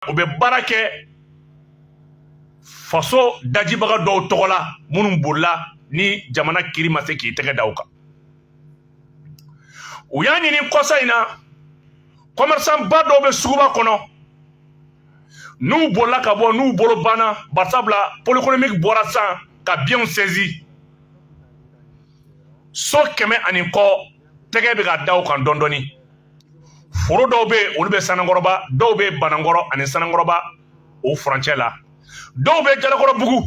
u bɛ baara kɛ faso dajibaga dɔw tɔgɔ la minnu bolila ni jamana kiri ma se k'i tɛgɛ da u kan u y'a ɲini kɔsa in na kɔmɛrisanba dɔw bɛ suguba kɔnɔ n'u bolila ka bɔ n'u bolo banna barisabula pôle économique bɔra sisan ka biyɛnw sɛzi so kɛmɛ ani kɔ tɛgɛ bɛ ka da u kan dɔɔni dɔɔni foro dɔw bɛ yen olu bɛ sanankɔrɔba dɔw bɛ banankɔrɔ ani sanankɔrɔba o furancɛ la dɔw bɛ jalakɔrɔbugu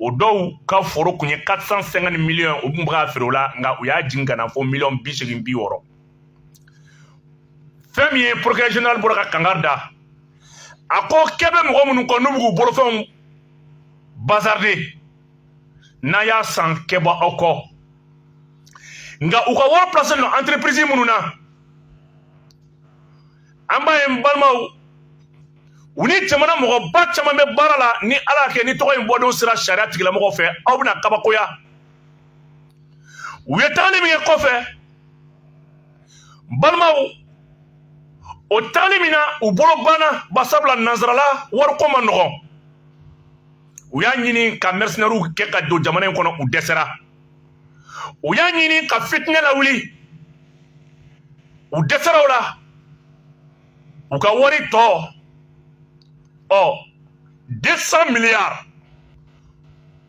o dɔw ka foro kun ye 450 miliyɔn u tun bɛ k'a feere o la nka u y'a jigin ka na fo miliyɔn bi seegin bi wɔɔrɔ fɛn min ye procureur général bɔra ka kangari da a ko kɛ bɛ mɔgɔ minnu kɔ n'u bɛ k'u bolofɛnw bazarde n'a y'a san kɛ bɔ aw kɔ nka u ka wari pilase don entreprise minnu na an b'a ye n balimaw u ni jamana mɔgɔba caman bɛ baara la ni ala y'a kɛ ni tɔgɔ in bɔdon sera sariya tigilamɔgɔw fɛ aw bɛna kabakoya u ye tagali min kɛ kɔfɛ balimaw o tagali min na u bolo banna barisabula nansarala wariko man nɔgɔn u y'a ɲini ka mercenaires kɛ ka don jamana in kɔnɔ u dɛsɛra u y'a ɲini ka fitinɛ lawuli u dɛsɛra o la u ka wari tɔ ɔ 200 milliards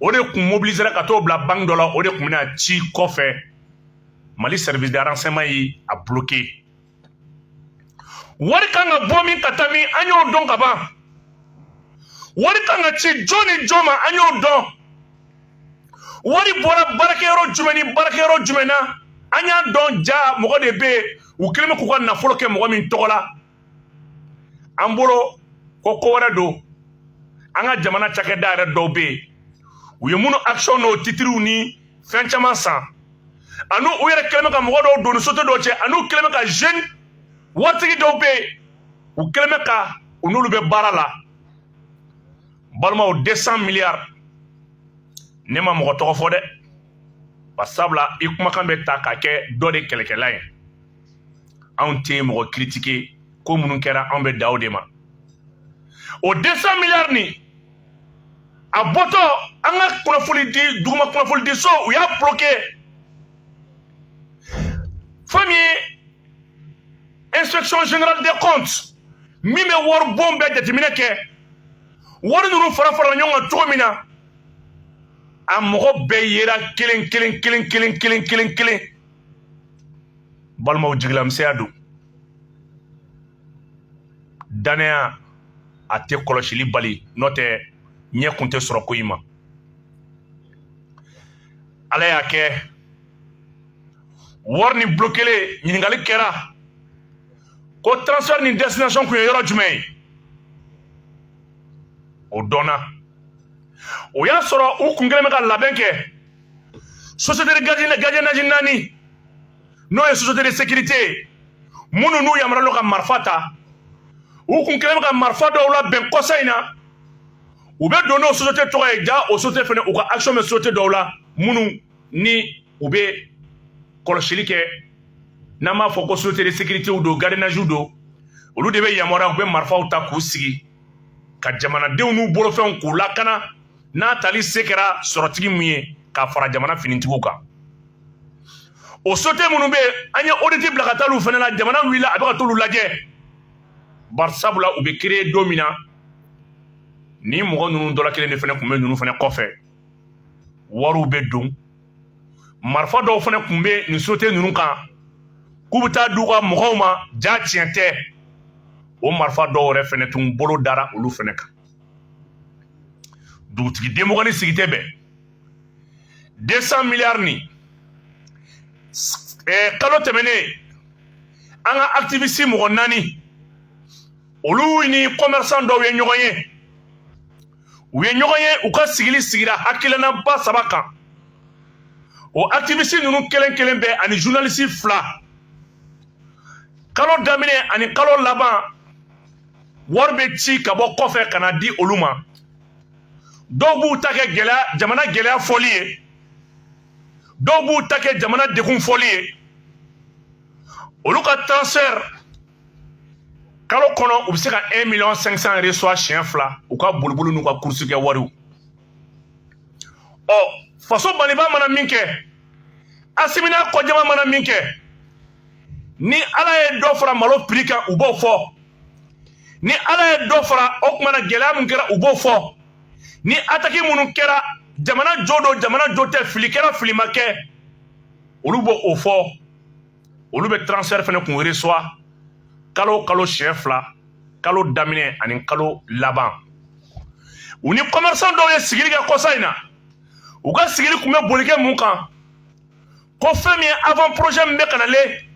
o de kun mobilisera ka t'o bila banque dɔ la o de kun bɛna ci kɔfɛ mali service de renseignement ye a bloqué wari kan ka bɔ min ka taa min an y'o dɔn ka ban wari kan ka ci jɔn ni jɔn ma an y'o dɔn wari bɔra baarakɛyɔrɔ jumɛn ni baarakɛyɔrɔ jumɛn na an y'a dɔn jaa mɔgɔ de bɛ yen u kɛlen bɛ k'u ka nafolo kɛ mɔgɔ min tɔgɔ la an bolo ko ko wɛrɛ don an ka jamana cakɛda yɛrɛ dɔw bɛ yen u ye minnu action n'o titiriw ni fɛn caman san ani u yɛrɛ kɛlen bɛ ka mɔgɔ dɔw don ni société dɔw cɛ ani u kɛlen bɛ ka jeune waritigi dɔw bɛ yen u kɛlen bɛ ka u n'olu bɛ baara la balimaw 200 miliyari ne ma mɔgɔ tɔgɔ fɔ dɛ barisabula i kumakan bɛ ta ka kɛ dɔ de kɛlɛkɛla ye anw tɛ mɔgɔ kiritike ko minnu kɛra anw bɛ da o de ma o 200 miliyari nin a bɔtɔ an ka kunnafoni di duguma kunnafoni di so u y'a bloqué fɛn min ye inspection générale des comptes min bɛ waribon bɛɛ jateminɛ kɛ wari ninnu fara farala ɲɔgɔn kan cogo min na a mɔgɔ bɛɛ yera kelen kelen kelen kelen kelen kelen kelen balimaw jigilamisɛnya don dannaya a tɛ kɔlɔsili bali n'o tɛ ɲɛ kun tɛ sɔrɔ ko in ma ala y'a kɛ wari nin bloquélen ɲininkali kɛra ko transfert nin destination kun ye yɔrɔ jumɛn ye o dɔnna o y'a sɔrɔ u kun kɛlen bɛ ka labɛn kɛ société de gardiennage naani n'o ye société de sécurité ye minnu n'u yamaruyalen don ka marifa ta u kun kɛlen bɛ ka marifa dɔw labɛn kɔsa in na u bɛ don n'o société tɔgɔ ye ja o société fana u ka action bɛ société dɔw la minnu ni u bɛ kɔlɔsili kɛ n'an b'a fɔ ko société de sécuritéw don gardiennagew don olu de bɛ yamaruya u bɛ marifaw ta k'u sigi ka jamanadenw n'u bolofɛnw k'u lakana n'a tali se kɛra sɔrɔtigi min ye k'a fara jamana finitigiw kan o société minnu bɛ an ye audit bila ka taa olu fana la jamana wulila a bɛ ka t'olu lajɛ bari sabula u bɛ créer don min na ni mɔgɔ ninnu dɔ la kelen de fana tun bɛ ninnu fana kɔfɛ wariw bɛ don marifa dɔw fana tun bɛ nin société ninnu kan k'u bɛ taa di u ka mɔgɔw ma ja tiɲɛ tɛ o marifa dɔw yɛrɛ fana tun bolo dara olu fana kan dugutigi denmɔgɔnin sigi tɛ bɛn 200 miliyari nin eh, kalo tɛmɛnen an ka activiste mɔgɔ naani olu ni commerçant dɔw ye ɲɔgɔn ye u ye ɲɔgɔn ye u ka sigili sigira hakilinaba saba kan o activiste ninnu kelen kelen bɛɛ ani journaliste fila kalo daminɛ ani kalo laban wari bɛ ci ka bɔ kɔfɛ ka na di olu ma dɔw b'u ta kɛ gɛlɛya jamana gɛlɛya fɔli ye dɔw b'u ta kɛ jamana degun fɔli ye olu ka transfert kalo kɔnɔ u bɛ se ka 1 million 500 reçoit siɲɛ fila u ka boliboli n'u ka course kɛ wariw ɔ faso maliba mana min kɛ asimi n'a kɔjama mana min kɛ ni ala ye dɔ fara malo prix kan u b'o fɔ ni ala ye dɔ fara o kuma na gɛlɛya min kɛra u b'o fɔ ni attaque minnu kɛra jamana jo don jamana jo tɛ fili kɛra fili ma kɛ olu b'o fɔ olu bɛ transfert fana kun reçoit kalo kalo siɲɛ fila kalo daminɛ ani kalo laban u ni commerçant dɔw ye sigili kɛ kɔsa in na u ka sigili kun bɛ boli kɛ mun kan ko fɛn min ye avant projet min bɛ ka nalen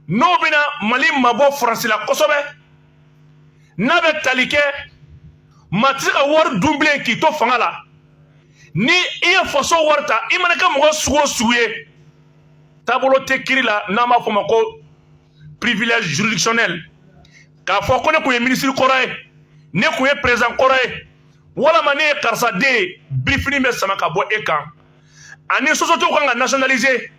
n'o bɛna mali mabɔ faransi la kosɛbɛ n'a bɛ tali kɛ maa tɛ se ka wari dun bilen k'i to fanga la ni i ye faso wari ta i mana kɛ mɔgɔ sugu o sugu ye taabolo tɛ kiiri la n'an b'a fɔ o ma ko privilège juridictionnel k'a fɔ ko ne kun ye minisiri kɔrɔ ye ne kun ye perezidan kɔrɔ ye walama ne ye karisa den ye birifini bɛ sama ka bɔ e kan ani sociétéw kan ka nationaliser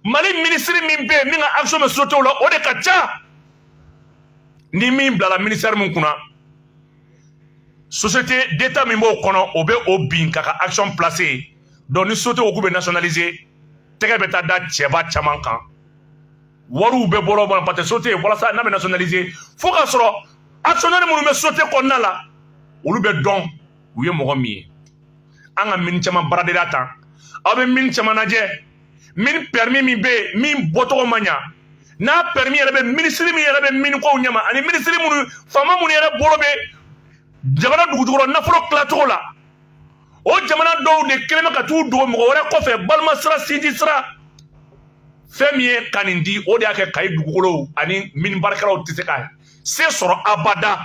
mali minisiri min bɛ yen min ka action bɛ sociétéw la o de ka ca ni min bilala minisitɛri min kunna société d'état min b'o kɔnɔ o bɛ o bin k'a ka action placer donc ni société ko k'u bɛ nationaliser tɛgɛ bɛ taa da cɛba caman kan wariw bɛ bɔrɔ bɔrɔ parce que société walasa n'a bɛ nationaliser fo k'a sɔrɔ actionnaire minnu bɛ société kɔnɔna la olu bɛ dɔn u ye mɔgɔ min ye an ka mini caman baaradenya tan aw bɛ mini caman lajɛ mini pɛrimi min bɛ yen min bɔcogo ma ɲa n'a pɛrimi yɛrɛ bɛ minisiri min yɛrɛ bɛ mini kow ɲɛma ani minisiri minnu faama minnu yɛrɛ bolo bɛ jamana dugujukɔrɔ nafolo tilacogo la o jamana dɔw de kɛlen bɛ ka t'u dogo mɔgɔ wɛrɛ kɔfɛ balima sira sinji sira fɛn min ye ka nin di o de y'a kɛ kayi dugukolow ani mini baarakɛlaw tɛ se ka se sɔrɔ abada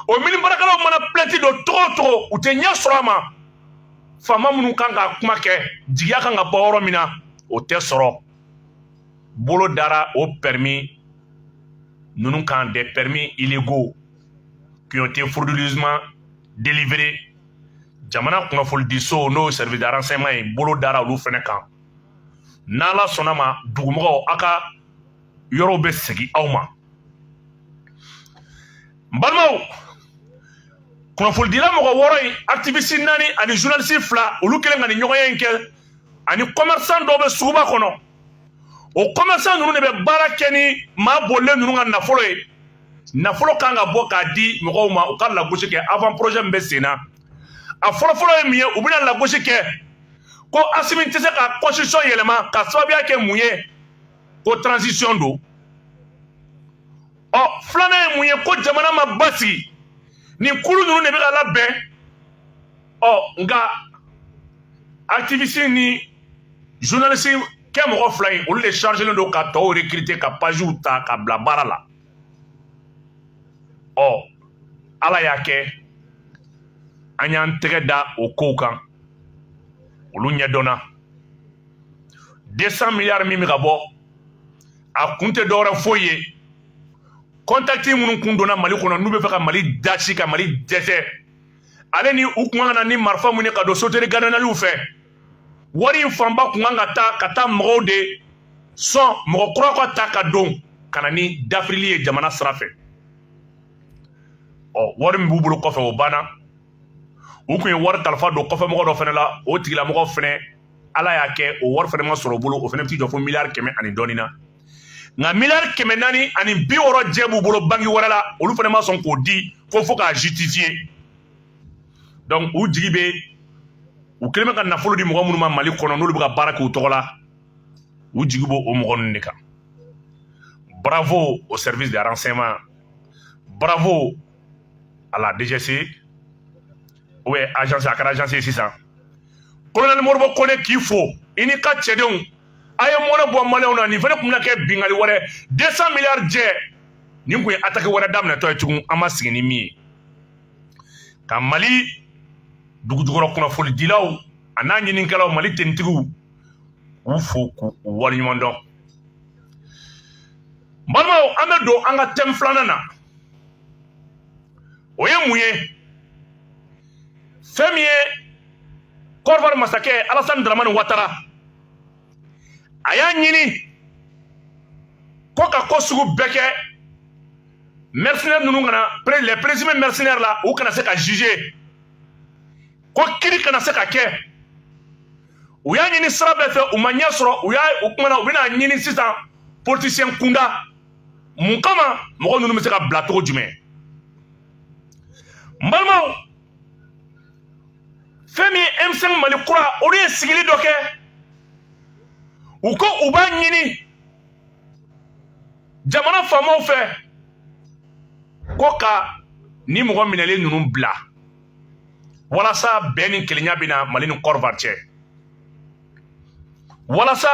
o mini baarakɛlaw mana pilɛnti don cogo o cogo u tɛ ɲɛ sɔrɔ a ma faama minnu kan ka kuma kɛ jigiya kan ka bɔ yɔrɔ min na o tɛ sɔrɔ bolo dara o pɛrimi ninnu kan des permis illégaux qui ont été frauduleusement délivrés jamana kunnafonidiso n'o service de renseignement ye bolo dara olu fana kan n'ala sɔnna ma dugumɔgɔw a ka yɔrɔw bɛ segin aw ma n balimaw kunnafonidila mɔgɔ wɔɔrɔ in activiste naani ani journaliste fila olu kɛlen ka nin ɲɔgɔnye in kɛ ani commerçant dɔw bɛ suguba kɔnɔ o commerçant ninnu de bɛ baara kɛ ni maa bolilen ninnu ka nafolo ye nafolo kan ka bɔ k'a di mɔgɔw ma u ka lagosi kɛ avant projet min bɛ sen na a fɔlɔfɔlɔ ye mun ye u bɛna lagosi kɛ ko asimi tɛ se ka constitution yɛlɛma k'a sababuya kɛ mun ye ko transition don ɔ filanan ye mun ye ko jamana ma basigi nin kulu ninnu de bɛ ka labɛn ɔ nka activiste ni journaliste kɛ mɔgɔ fila in olu de chargelen don ka tɔw recruter ka pagew ta ka bila baara la ɔ ala y'a kɛ an y'an tɛgɛ da o kow kan olu ɲɛdɔnna 200 miliyari min bɛ ka bɔ a kun tɛ dɔwɛrɛ foyi ye kɔntakiti minnu kun donna mali kɔnɔ n'u bɛ fɛ ka mali dasi ka mali dɛsɛ ale ni u kun kan ka na ni marifa min ye ka don soteri gananaliw fɛ wari in fanba kun kan ka taa ka taa mɔgɔw de sɔn mɔgɔ kura ka ta ka don ka na ni dafirili ye jamana sira fɛ ɔ wari min b'u bolo kɔfɛ o banna u kun ye wari kalifa don kɔfɛmɔgɔ dɔ fɛnɛ la o tigilamɔgɔ fɛnɛ ala y'a kɛ o wari fɛnɛ ma sɔrɔ o bolo o fɛnɛ bɛ t'i jɔ fo miliyari kɛmɛ ani dɔɔnin na nka miliyari kɛmɛ naani ani bi wɔɔrɔ jɛ b'u bolo banki wɛrɛ la olu fɛnɛ ma sɔn k'o di ko fo k'a justifiye donc u jigi bɛ u kelen bɛ ka nafolo di mɔgɔ minnu ma mali kɔnɔ n'olu bɛ ka baara k'u tɔgɔ la u jigi b'o o mɔgɔ ninnu de kan bravo au service de renseignement bravo à la DGSE ou bien agence a kɛra agence ye sisan kolonɛli modibo kone k'i fo i n'i ka cɛdenw a ye mɔnɛ bɔ maliyɛnw na nin fɛnɛ kun bɛna kɛ binkanni wɛrɛ 200 miliyari jɛ nin kun ye ataki wɛrɛ daminɛtɔ ye tugun an ma sigi ni min ye ka mali dugujukɔrɔ kunnafonidilaw an'a ɲininikɛlaw mali tenitigiw k'u fo k'u waleɲuman dɔn balimaw an bɛ don an ka tɛmu filanan na o ye mun ye fɛn min ye kɔdiwari masakɛ alasani daramani watara a y'a ɲini ko ka ko sugu bɛɛ kɛ mercenaire ninnu kana les présumés mercenaires la u kana se ka juger ko kiri kana se ka kɛ u y'a ɲini sira bɛɛ fɛ u ma ɲɛ sɔrɔ u y'a u kumana u bɛna ɲini sisan politicien kunda mun kama mɔgɔ ninnu bɛ se ka bila cogo jumɛn n balimaw fɛn min ye M5 mali kura olu ye sigili dɔ kɛ u ko u b'a ɲini jamana faamaw fɛ ko ka nin mɔgɔ minɛlen ninnu bila walasa bɛn ni kelenya bɛ na mali ni kɔdiwari cɛ walasa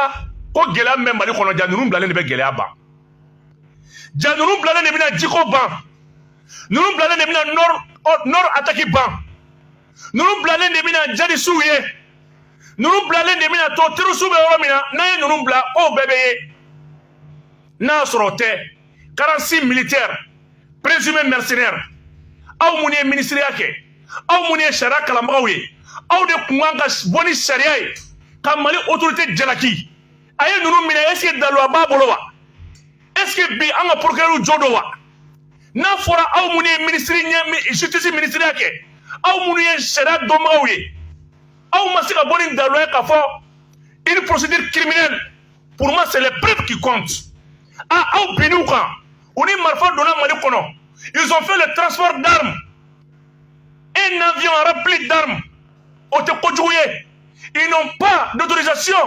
ko gɛlɛya min bɛ mali kɔnɔ ja ninnu bilalen de bɛ gɛlɛya ban ja ninnu bilalen de bɛna jiko ban ninnu bilalen de bɛna nɔri ataki ban ninnu bilalen de bɛna jadisiw ye ninnu bilalen de bɛna to terorisiw bɛ yɔrɔ min na n'an ye ninnu bila o bɛɛ bɛ ye n'a sɔrɔ o tɛ quarante-six militaires présumés mercenaires aw minnu ye minisiriya kɛ aw minnu ye sariya kalanbagaw ye aw de kun kan ka bɔ ni sariya ye ka mali autorité jalaki a ye ninnu minɛ est ce que daluya b'a bolo wa est ce que bi an ka procureur jo don wa n'a fɔra aw minnu ye minisiri ɛ justice minisiriya kɛ aw minnu ye sariya dɔnbagaw ye aw ma se ka bɔ ni daluya ye k'a fɔ une procédure criminelle pour moi c'est les preuves qui comptent ah aw bin'u kan u ni marifa donna mali kɔnɔ ils ont fait le transport d'armes un avion rempli d'armes o tɛ kojugu ye ils n'ont pas d'autorisation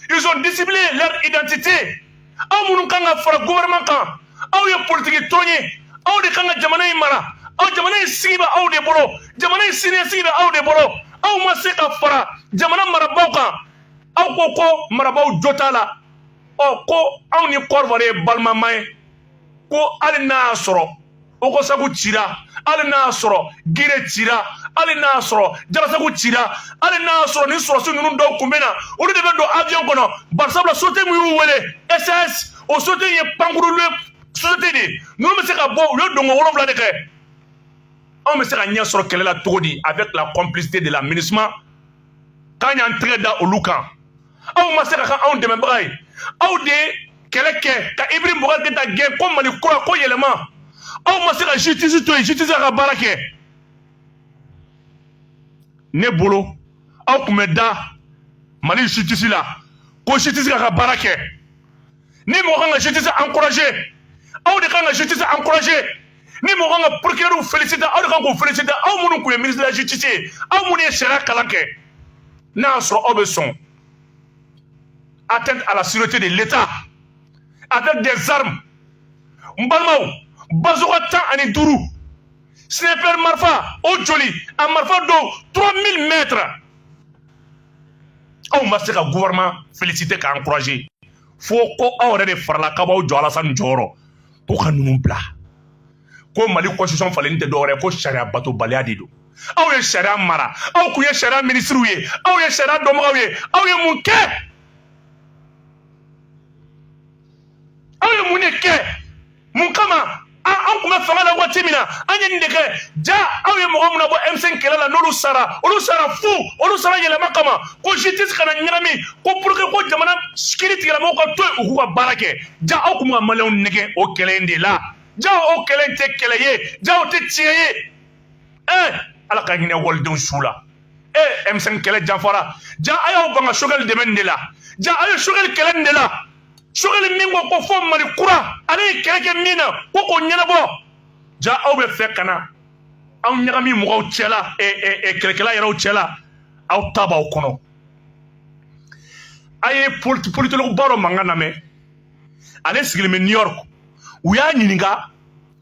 ils ont dissimulé leur identité aw minnu kan ka fara gouvernement kan aw ye politiki tɔn ye aw de kan ka jamana in mara aw jamana in sigi bɛ aw de bolo jamana in siniɲɛsigi bɛ aw de bolo aw ma se ka fara jamana marabaaw kan aw ko ko marabaaw jo t'a la ɔ ko anw ni Côte d'Ivoire ye balimama ye ko hali n'a y'a sɔrɔ ogosagu cira hali n'a y'a sɔrɔ gire cira hali n'a y'a sɔrɔ jarasagu cira hali n'a y'a sɔrɔ ni sɔrɔdasi ninnu dɔw kun bɛ na olu de bɛ don avion kɔnɔ barisabula société min y'u wele SAS o société ye pankurule société de ye ninnu bɛ se ka bɔ u ye donko wolonwula de kɛ anw bɛ se ka ɲɛ sɔrɔ kɛlɛ la cogo di avec la complicité de la minusma k'an y'an tɛgɛ da olu kan aw ma se ka kɛ anw dɛmɛbaga ye aw de ye kɛlɛ kɛ ka Ibrahim Boubacar Keïta gɛn ko mali kura ko yɛlɛma aw ma se ka justice to yen justice ka baara kɛ ne bolo aw tun bɛ da mali justice la ko justice k'a ka baara kɛ ni mɔgɔ kan ka justice encourager aw de kan ka justice encourager ni mɔgɔ kan ka procureur féliciter aw de kan k'u féliciter aw minnu tun ye ministre de la justice ye aw minnu ye sariya kalan kɛ n'a y'a sɔrɔ aw bɛ sɔn atteinte à la sûreté de l'État avec des armes n balimaw bazoka tan ani duuru sniper marifa o joli a marifa dɔw 3000 mètres aw ma se ka gouvernement féliciter k'a encourager fo ko aw yɛrɛ de farala k'a b'aw jɔ alasani jɔyɔrɔ ko ka ninnu bila ko mali constitution falenni tɛ dɔwɛrɛ ko sariya batobaliya de don aw ye sariya mara aw kun ye sariya minisiriw ye aw ye sariya dɔnbagaw ye aw ye mun kɛ aw ye mun de kɛ mun kama an kun bɛ fanga la waati min na an ye nin de kɛ ja aw ye mɔgɔ min nabɔ M5 kɛlɛ la n'olu sara olu sara fu olu sara yɛlɛma kama ko justice kana ɲagami ko pour que ko jamana kiritigɛlamɔgɔw ka to yen u k'u ka baara kɛ ja aw kun bɛ ka maliyɛnw nɛgɛn o kɛlɛ in de la ja o kɛlɛ in tɛ kɛlɛ ye ja o tɛ tiɲɛ ye ee ala ka hinɛ walidenw su la ee m5 kɛlɛ janfara ja a y'aw ban ka sogɛli dɛmɛ nin de la ja a ye sogɛli kɛlɛ nin de la sogɛli min ko ko fo mali kura ale ye kɛlɛ kɛ min na ko k'o ɲɛnabɔ ja aw bɛ fɛ ka na aw ɲagami mɔgɔw cɛla kɛlɛkɛla yɛrɛw cɛla aw ta b'aw kɔnɔ a ye politologue ba dɔ mankan lamɛn ale sigilen bɛ new york u y'a ɲininka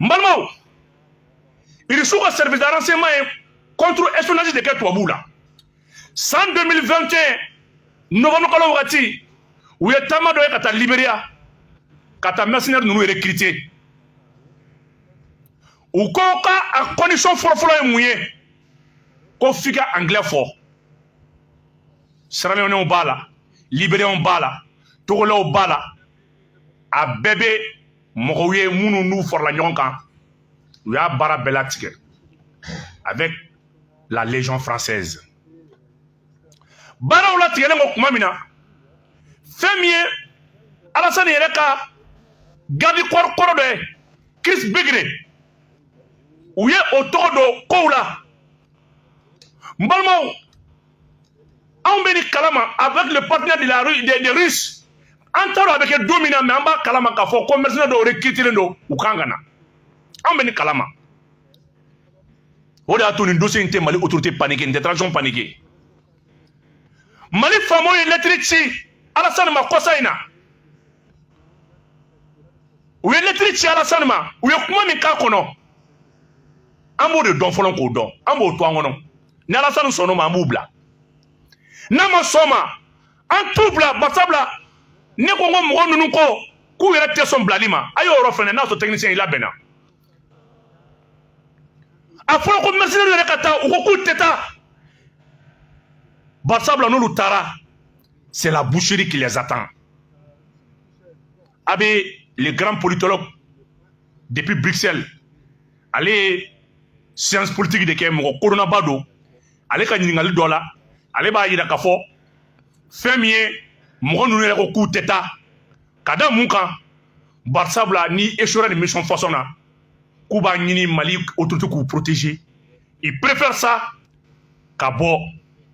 n balimaw irisiw ka service de renseignement ye contre espionnage de kɛ tubabuw la san 2021 novembre kalo wagati u ye taama dɔ ye ka taa liberia ka taa mercenaire ninnu recruter u ko ka a condition fɔlɔfɔlɔ ye mun ye ko f'i ka anglais fɔ siraleonɛw b'a la liberiyɛnw b'a la togolaw b'a la a bɛɛ bɛ mɔgɔw ye minnu n'u farala ɲɔgɔn kan u y'a baara bɛɛ latigɛ avec la légion française baaraw latigɛlen kɔ tuma min na fɛn min ye alasani yɛrɛ ka garde corps kɔrɔ dɔ ye chris begre u ye o tɔgɔ don kow la n balimaw anw bɛ nin kalama avec le partenaire de la des russes an t'a dɔn a bɛ kɛ don min na mais an b'a kalama k'a fɔ ko mercenaire dɔw recrutilen don u kan ka na anw bɛ nin kalama o de y'a to nin dossier in tɛ mali autorité paniquer nin tɛ transition paniquer mali faamaw ye lɛtiri ci alasani ma kɔsa in na u ye lɛtiri ci alasani ma u ye kuma min k'a kɔnɔ an b'o de dɔn fɔlɔ k'o dɔn an b'o to an kɔnɔ ni alasani sɔnn'o ma an b'u bila n'a ma sɔn ma an t'u bila barisabula ne ko n ko mɔgɔ ninnu ko k'u yɛrɛ tɛ sɔn bilali ma a y'o yɔrɔ fɛnɛ n'a sɔrɔ technicien i labɛnna a fɔra ko mercenairew yɛrɛ ka taa u ko k'u tɛ taa barisabula n'olu taara c'est la boucherie qui les attend a bɛ le grand politologue depuis bruxelles ale ye science politique de kɛ mɔgɔ kodɔnnaba don ale ka ɲininkali dɔ la ale b'a yira k'a fɔ fɛn min ye mɔgɔ ninnu yɛrɛ ko k'u tɛ taa ka da mun kan barisabula n'i échouera nin mission façon na k'u b'a ɲini mali autorité k'u protéger ils préfèrent ça ka bɔ